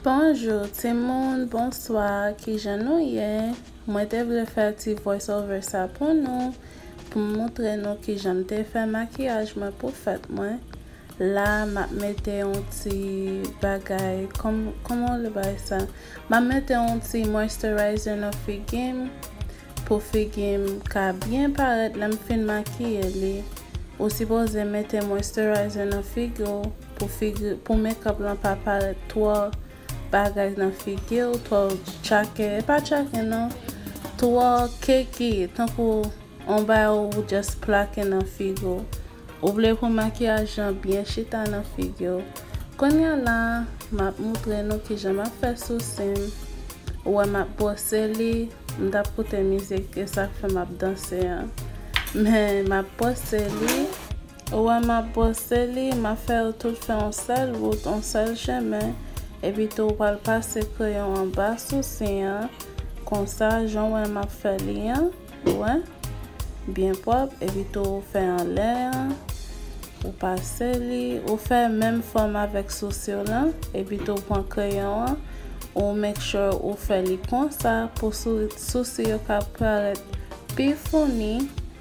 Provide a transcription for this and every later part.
Bonjour timoun bonswa kijan nou ye mwen te vle fè ti voice over sa pou nou pou m moutre nou kijan m te fè makiyaj mwen pou fèt mwen la map mete yon ti bagay kòman w le bay sa map mete yon ti moisturizer nan figi m pou figi m ka byen parèt lè m fin makiye li ou sipoze mete moisturizer nan figi w. Pou figi pou mekòp lan pa parèt twò bagay nan figiw twò tchakè e pa tchakè nan twò keke tankou on bagay ou just plake nan figiw ou vle pou makiyaj lan byen chita nan figiw kounya la map moutre nou kijan map fè sousim ou wè map bwose li m tap koute mizik esak fè map danse an men map bwose li. Ou wè m ap bwose li, m ap fè yo tout fè yon sèl wout, yon sèl chemen, epi tou ou pral pase kreyon an ba sousi an, konsa, jan w wè m ap fè li an, ou wè, byen pwòp, epi tou ou fè anlè an, ou pase li, ou fè menm fòm avèk sousi w lan, epi tou ou pran kreyon an, ou make sure ou fè li konsa pou sousi yo ka parèt pi founi.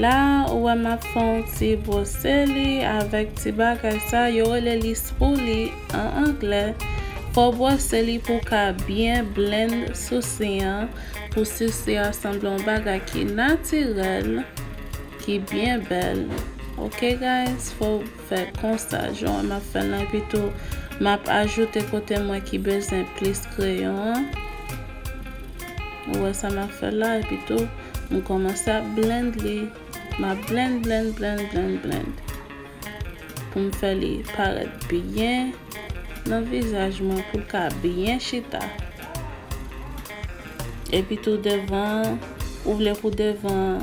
La ou wè map fè yon ti brose li avèk ti bagay sa yo rele li spoolie an anglè fò w brose li pou w ka byen blend sousi an pou sousi an sanble yon bagay ki natirèl ki byen bèl ok guys fò fè konsa jan map fèl lan epi tou map ajoute kote mwen ki bezwen plis kreyon an ou wè sa map fèl la epi tou m kòmanse ap blend li map blend blend blend blend blend pou m fè li parèt byen nan vizaj mwen poul ka byen chita epi tou devan ou vle pou devan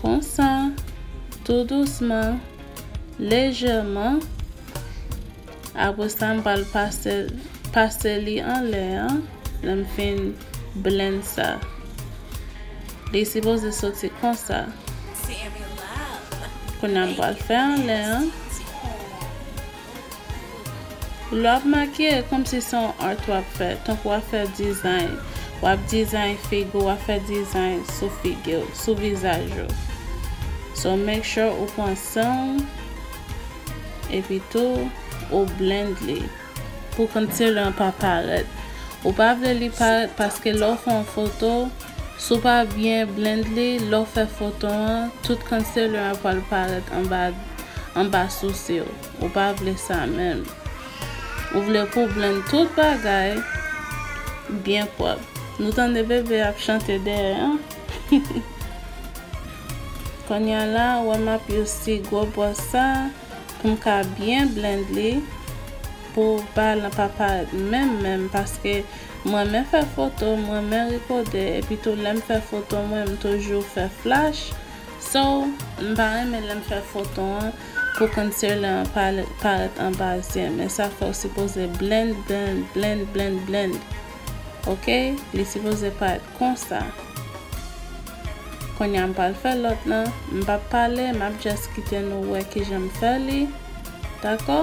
Konsa, tou dousman, lejèman, apre sa m pral pase pase li anlè an lè m fin blenn sa. Li sipoze soti konsa. Kounye a m pral fè anlè an. Lè w ap make, e kòmsi se yon art w ap fè, tankou w ap fè design, w ap design figi w, w ap fè design sou figi w, sou vizaj ou. So make sure ou pran san w, epi tou ou blend li pou concealer an pa parèt. Ou pa vle li parèt paske lè w fè yon foto. Si w pa byen blend li, lè w fè fotón an, tout concealer an pwal parèt anba anba sousi w. Ou pa vle sa menm. Ou vle pou w blend tout bagay byen pwòp. Nou tande bebe ap chante dèyè an. Konnya la, wè m ap use gwo bwòs sa pou m ka byen blend li pou ba lan pa parèt menm menm paske M renmen fè foto, m renmen rikode epi tou lè m fè foto mwen m toujou fè flash so m pa renmen lè m fè foto an pou concealer an pa parèt anba zye men sa fè w sipoze blend blend blend blend blend ok li sipoze parèt konsa kounya m pral fè lòt lan m pap pale m ap just kite nou wè kijan m fè li dakò.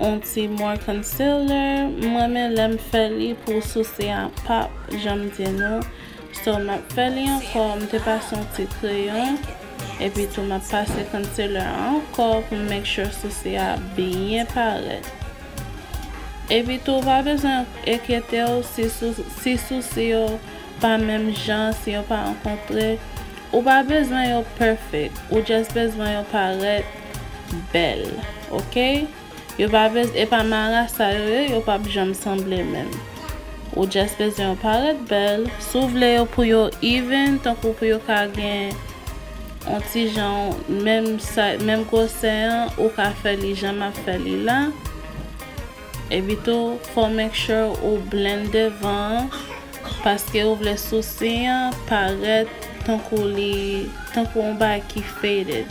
On ti more concealer m renmen lèm fè li pou souse a pap janm di nou so map fè li ankò m te pase on ti kreyon epi tou map pase concealer a ankò pou m make sure souse a byen parèt epi tou ou pa bezwen enkyetew si si souse yo pa menm jan si yo pa rankontre ou pa bezwen yo perfect ou just bezwen yo parèt. bèl ok yo pa bez epa marasa yo ye yo pap janm sanble menm ou just bezwen yo parèt bèl si w vle yo pou yo even tankou pou yo ka gen on ti jan menm size menm gwosè an ou ka fè li jan map fè li la epi tou fò make sure ou blend devan an paske ou vle sousi an parèt tankou li tankou on bagay ki faded.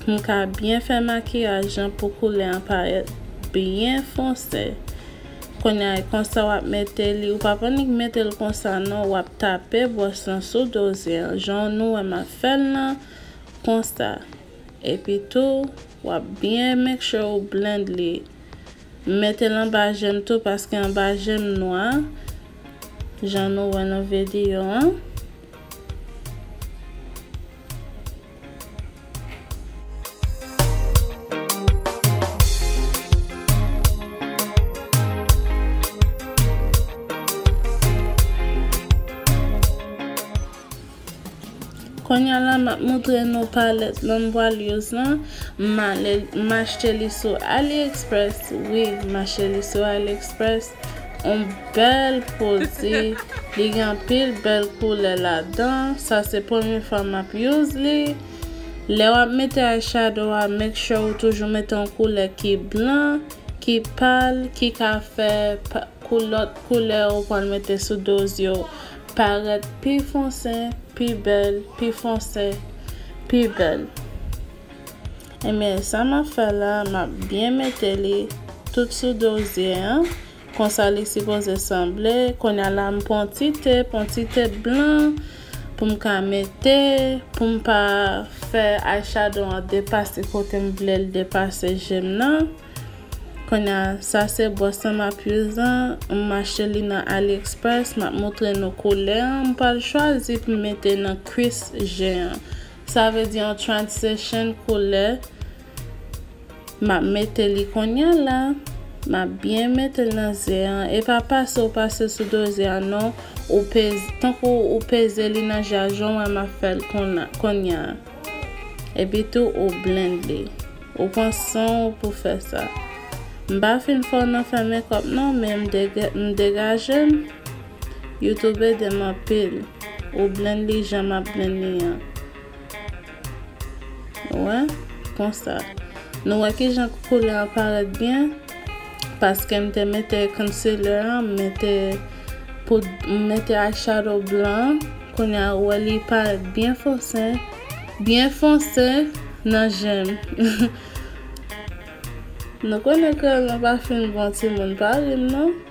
pou m ka byen fè makiyaj lan pou koulè an parèt byen fonse kounya e konsa wap mete li ou pa p annik mete l konsa non wap tape bwòs lan sou do zye an jan w nou wè map fè l lan konsa epi tou wap byen make sure ou blend li m mete l anba je m tou paske anba je m nwa jan nou wè nan vediyo an. Konya la map moutre nou palèt nan vwal yoz lan m achte li sou aliexpress wi m achte li sou aliexpress. On bèl pwodi li gen anpil bèl koulè ladan sa se premye fwa map use li lè wap mete eye shadow a make sure ou toujou mete yon koulè ki blan ki pal ki ka fè kou lòt koulè ou pral mete sou do zye w parèt pi fonse pi bèl pi fonse pi bèl. Ebyen sa map fè la map byen mete li tout sou dozye an konsa li sipoze sanble konya la m pran ti tep yon ti tep blan poum ka mete poum pa fè eyeshadow an depase kotem vlel depase jem nan konya sa se bwòs lan map use an m achte li nan aliexpress map moutre nou koulè an m pral chwazi poum mete nan kwis je an. Sa vle di an transition koulè map mete li konya la map byen metel nan ze an e pa pase ou pase sou do ze an non ou peze tankou ou peze li nan ja jan ou wè map fèl konya epi tou ou blend li ou pran san ou pou fè sa m pa fin fò nan fè makeup non men m degajem. YouTube edem anpil ou blend li jan map blend li an wè konsa nou wè kijan koulè an parèt byen paske m te mete concealer an m mete poud m mete eyeshadow blan kounya ou wè li parèt byen fonse byen fonse nan jem nou konnen kreyòl mwen pa fin bon timoun pa ri m non.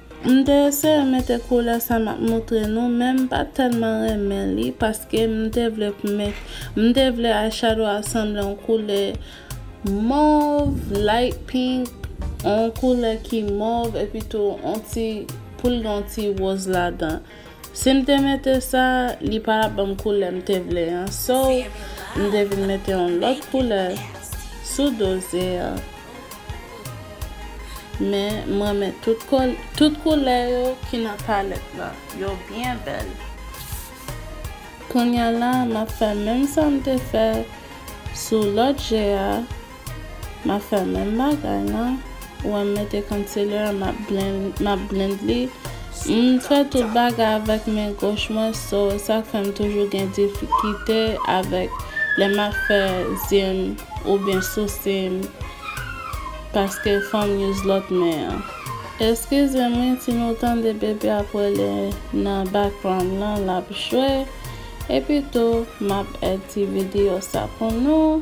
M te eseye mete koulè sa map moutre nou men m pa tèlman renmen li paske m te vle pou met m te vle eyeshadow a sanble yon koulè mov, light pink, yon koulè ki mov epitou yon ti poul gen yon ti roz ladan. Sim te mete sa li pa tap banm koulè m te vle an so m te vin mete yon lòt koulè sou doze an men m renmen tout koulè yo ki nan palèt la yo byen bèl kounya la map fè menm sa m te fè sou lòt je a. Map fè menm bagay la. Ou wèm mete concealer map blend map blend li. M fè tout bagay avèk men goch mwen so sak fèm toujou gen difikite avèk lè map fè zyem oubyen sousim paske fòm use lòt men an. Eskizem wi si nou tande bebe ap rele nan background lan lap jwe epi tou map èd ti video sa pou nou.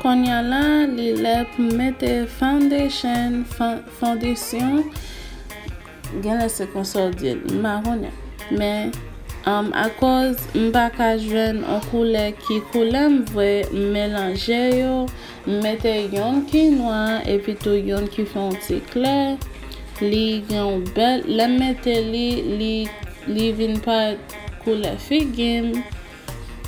Konnya la li lè pou m mete foundation fondesyon genlè se konsa w di l m pa konnen men akoz m pa ka jwenn on koulè ki koulè m vre m melanje yo M mete yonn ki nwa epi tou yonn ki fè yon ti klè. Li gen yon bèl, lè m mete li, li li vin parèt koulè figi m.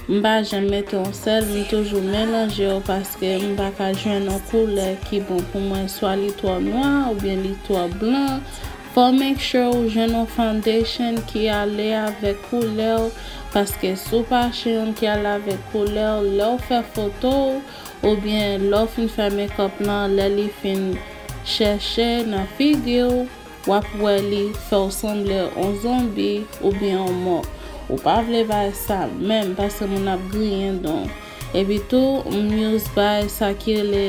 M pa janm mete yon sèl, m toujou melanje yo paske m pa ka jwenn yon koulè ki bon pou mwen. Swa li twò nwa oubyen li twò blan. Fò w make sure ou jwenn yon foundation ki ale avèk koulè w paske si w pa achè yonn ki ale avèk koulè w, lè w fè foto w, Oubyen lè w fin fè mekòp lan lè li fin chèche nan figi w wap wè li fè w sanble on zonbi oubyen on mò ou pa vle bay sa menm paske moun ap griyen dan w epitou m use bay sa ki rele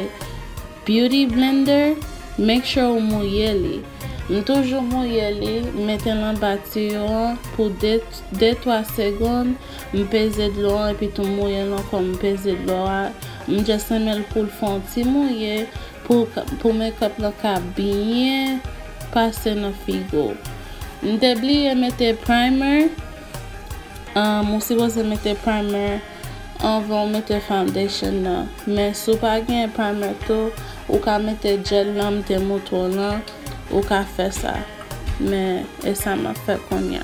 Beauty blender, make sure ou mouye li. M toujou mouye li, m metel anba tiyo an pou 2 de 3 segond, m peze dlo an epi tou m mouyel ankò m peze dlo a, m just renmenl poul fè yon ti mouye pou pou makeup lan ka byen pase nan figo. M te bliye mete primer, um ou sipoze mete primer. Anvan ou mete foundation nan. Men si w pa genyen primer tou, ou ka mete gel nanm te mouton lan, ou ka fè sa. Men e sa m ap fè kounya.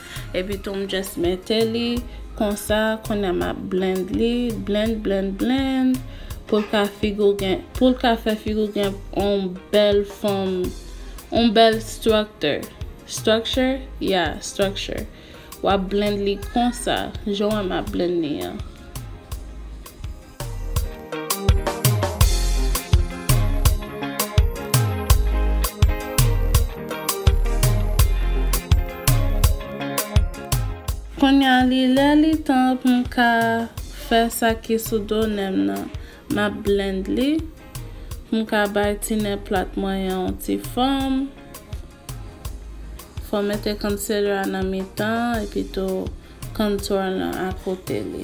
Epi tou m just mete li konsa kounye a m ap blend li blend blend blend pou l ka figi w gen pou l ka fè figi w gen yon bèl fòm yon bèl structure structure ya structure w ap blend li konsa jan w wè m ap blend li an. Konnya li lè li tan pou m ka fè sa ki sou do nen m nan. M ap blend li pou m ka bay ti nen plat mwen an yon ti fòm. Fò w mete concealer a nan mitan epitou contour lan akote li.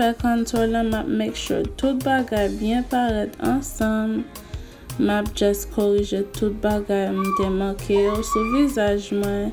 fè kontour lan map make sure tout bagay byen parèt ansanm map just korije tout bagay m te manke yo sou vizaj mwen.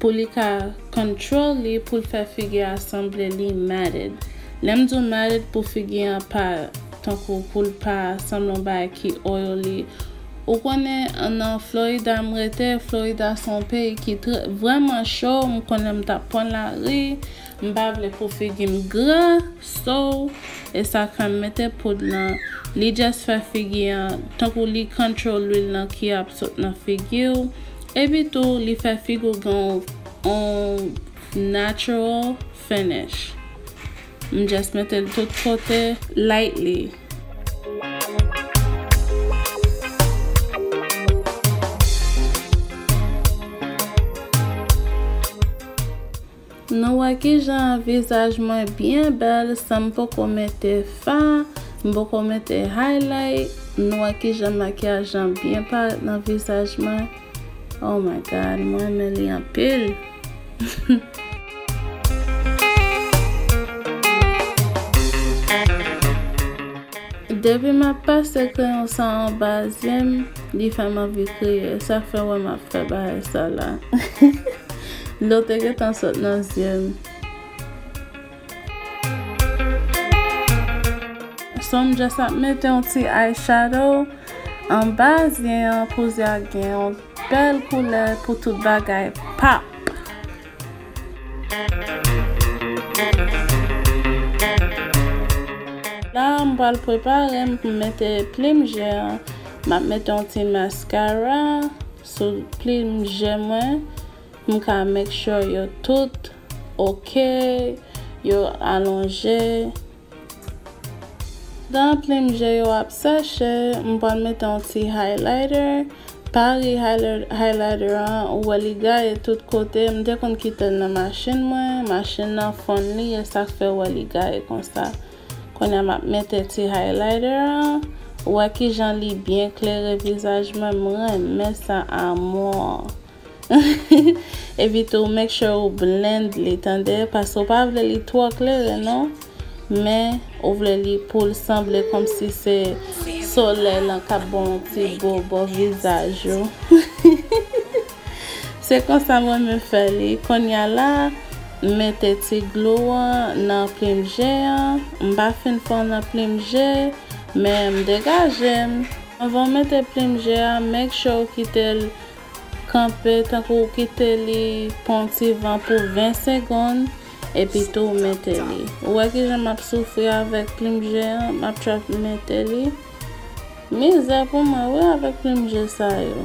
pou li ka control li poul fè figi a sanble li matted lèm diw matted pou figi an pa tankou poul pa sanble yon bagay ki oily ou konnen nan Florida m rete Florida son peyi ki trè vrèman cho m konnen m tap pwan lari M pa vle pou figim gran so esa fèm mete poud nan li just fè figi an tankou li control lwil nan ki ap sot nan figiw epi tou li fè figiw gen on natural finish m just metel tout kote lightly. Nou wè kijan vizaj mwen byen bèl san m poko mete fa, m poko mete highlight, nou wè kijan makyaj lan byen parèt nan vizaj mwen, oh my God mwen renmen li anpil. Depi m ap pase kreyon sa anba zye m, li fè m anvi kriye, sa fè w wè m ap fè bagay sa la. Dlo te gentan sot nan zye m. So m just ap mete yon ti eye shadow anba zye an pou zye a gen yon bèl koulè pou tout bagay pop. La m pral prepare m pou m mete plim je an. M ap mete yon ti mascara. Sou plim je mwen m ka make sure yo tout ok yo alonje Dan plim je yo ap sèche m pral mete yon ti highlighter Paris highlighter an ou wè li gaye tout kote m te konn kitel nan machin mwen machin nan fonn li esak fèw wè li gaye konsa. Konya map mete ti highlighter an. Ou wè kijan li byen klere vizaj mwen m renmen sa amour. Epi tou make sure ou blend li tande paske ou pa vle li twò klere non men ou vle li poul sanble komsi se solèy lan kap bon ti bo bò vizaj ou. Se konsa m renmen fè li. Konnya la, m mete ti glou an nan plim je an. M pa fin fè l nan plim je, men m degaje m. Anvan w mete plim je a, make sure w kite l kanpe, tankou w kite li pran yon ti van pou 20 segonn, epi tou w mete li. Ou wè kijan m ap soufri avèk plim je an, m ap try pou m mete li. Mizè pou mwen wi avèk plim je sa yo.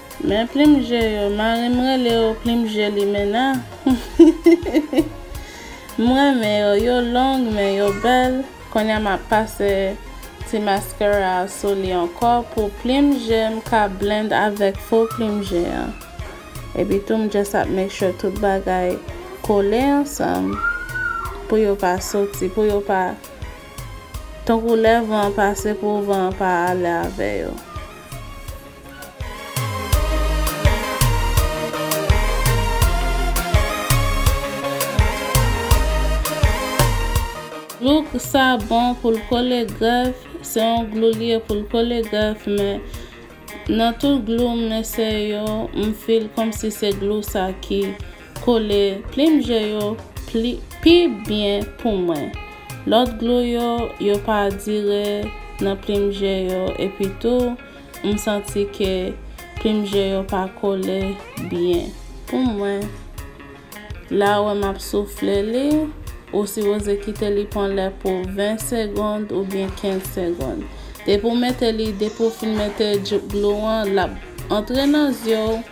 Men plim je yo, marim rele yo plim je limena m renmen yo, yo long men yo bèl, konnya map pase ti mascara a sou li ankò pou plim jem ka blend avèk fo plim je an epi tou m just ap make sure tout bagay kole ansanm pou yo pa soti pou yo pa tankou lè van an pase pou van an pa ale avè yo. Look sa bon poul kole grèf se yon glou li ye poul kole grèf men nan tout glou m lese yo m feel komsi se glou sa ki Kole plim je yo pi byen pou mwen. Lòt glou yo, yo pa dire nan plim je yo epi tou m santi ke plim je yo pa kole byen pou mwen. La wè m ap soufle li, ou sipoze kite li pran lè pou 20 segond oubyen 15 segond. Depi w mete li, depi w fin mete glou an l ap antre nan zye w.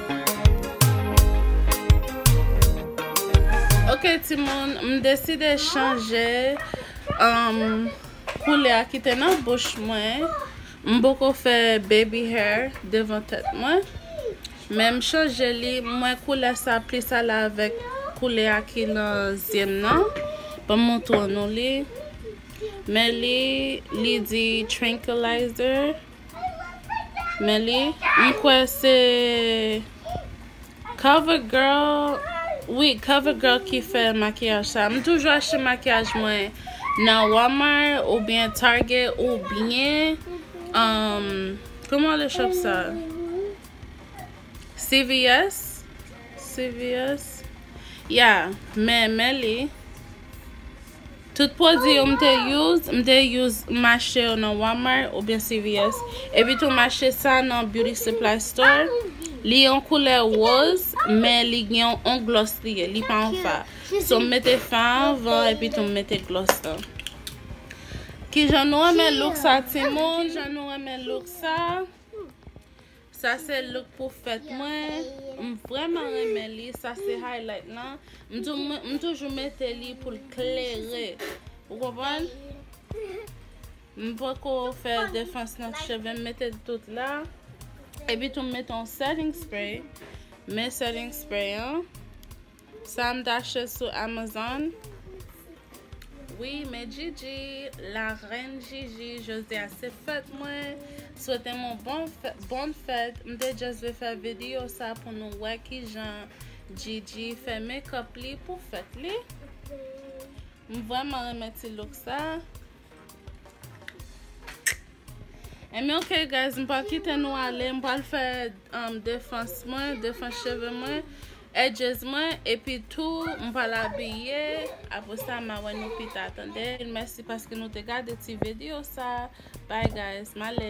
Ok timoun, m deside chanje koulè a ki te nan bouch mwen. M poko fè baby hair devan tèt mwen. Men m chanje li, m wè koulè sa plis ale avèk koulè a ki nan zye m nan. Ban m montre nou li. Men li, li di trankilizer. Men li, m kwè se Cover Girl, wi Cover Girl ki fè makiyaj sa. M toujou achte makiyaj mwen nan Walmart ou byen Target ou byen, um, kouman le shop sa? CVS? CVS? Ya, men, men li. Tout pwodwi yo m te use, m te use m achte yo nan Walmart oubyen CVS. Epi tou m achte sa nan Beauty Supply Store. Li yon koulè woz, men li gen yon on glòs li ye, li pa yon fa. So m mete fa anvan epi tou m mete glòs lan. Kijan nou renmen look sa timoun? Kijan nou renmen look sa? Sa se look pou fèt mwen. M vreman renmen li. Sa se highlight lan. M toujou mete li pou l klere. Ou konprann? M poko fè defans nan cheve m. M mete l tout la. Epi tou m mete yon setting spray. Men setting spray an. Sa m t achte sou Amazon. Wi men Gigi, la reine Gigi, jodi a se fèt mwen. Swete m yon bon bon fèt. M te just vle fè video sa pou nou wè kijan Gigi fè make up li pou fèt li. M vreman renmen ti look sa. Anyway ok guys m pral kite nou ale m pral fè um, defans mwen, defans cheve mwen, edges mwen epi tou m pral abiye apre sa ma wè nou pita tande mèsi paske nou te gade ti video sa bye guys m ale.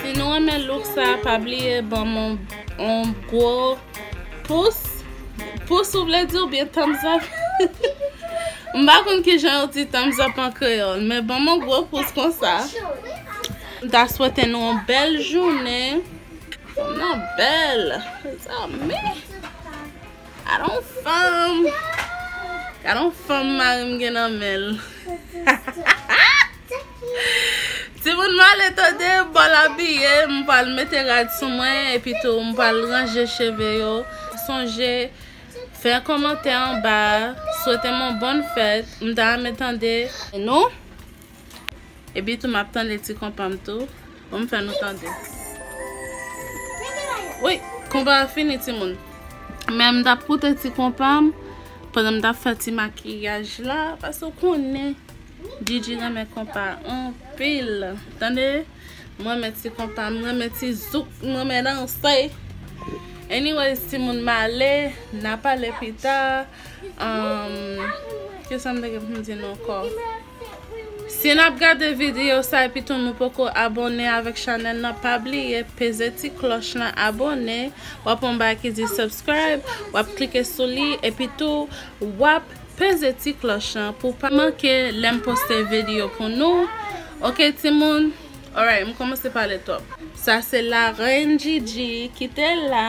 Si nou renmen look sa pa bliye banm yon gwo pous Pous ou vle di oubyen thumbs up M pa konn kijan yo di thumbs up an kreyòl men banm yon gwo pous konsa M ta swete nou yon bèl jounen Fanm nan bèl mezanmi Gadon fanm Gadon fanm marim gen nan menl Timoun male tande m pral abiye m pral mete rad sou mwen epi tou m pral ranje cheve yo sonje fè kòmantè anba swete m yon bòn fèt m ta renmen tande nou Epi tou map tande ti konpa m tou. Bon m fè nou tande. Woy! Konpa a fini timoun. Men m tap koute ti konpa m. Pandan m tap fè ti makiyaj la. Paske ou konnen Djidji renmen konpa anpil. Tande! M renmen ti konpa. M renmen ti zouk. M renmen danse. Anyways timoun m ale. N a pale pita. Kisa m te gen pou m di nou ankò? Si nap gade video sa epi tou nou poko abone avek chanel nan pa bliye peze ti kloch lan abone wap wè yon bagay ki di subscribe wap klike sou li epi tou wap peze ti kloch lan pou pa manke lem poste video pou nou ok ti moun alright m komanse pale twop sa se la reine Gigi kite la.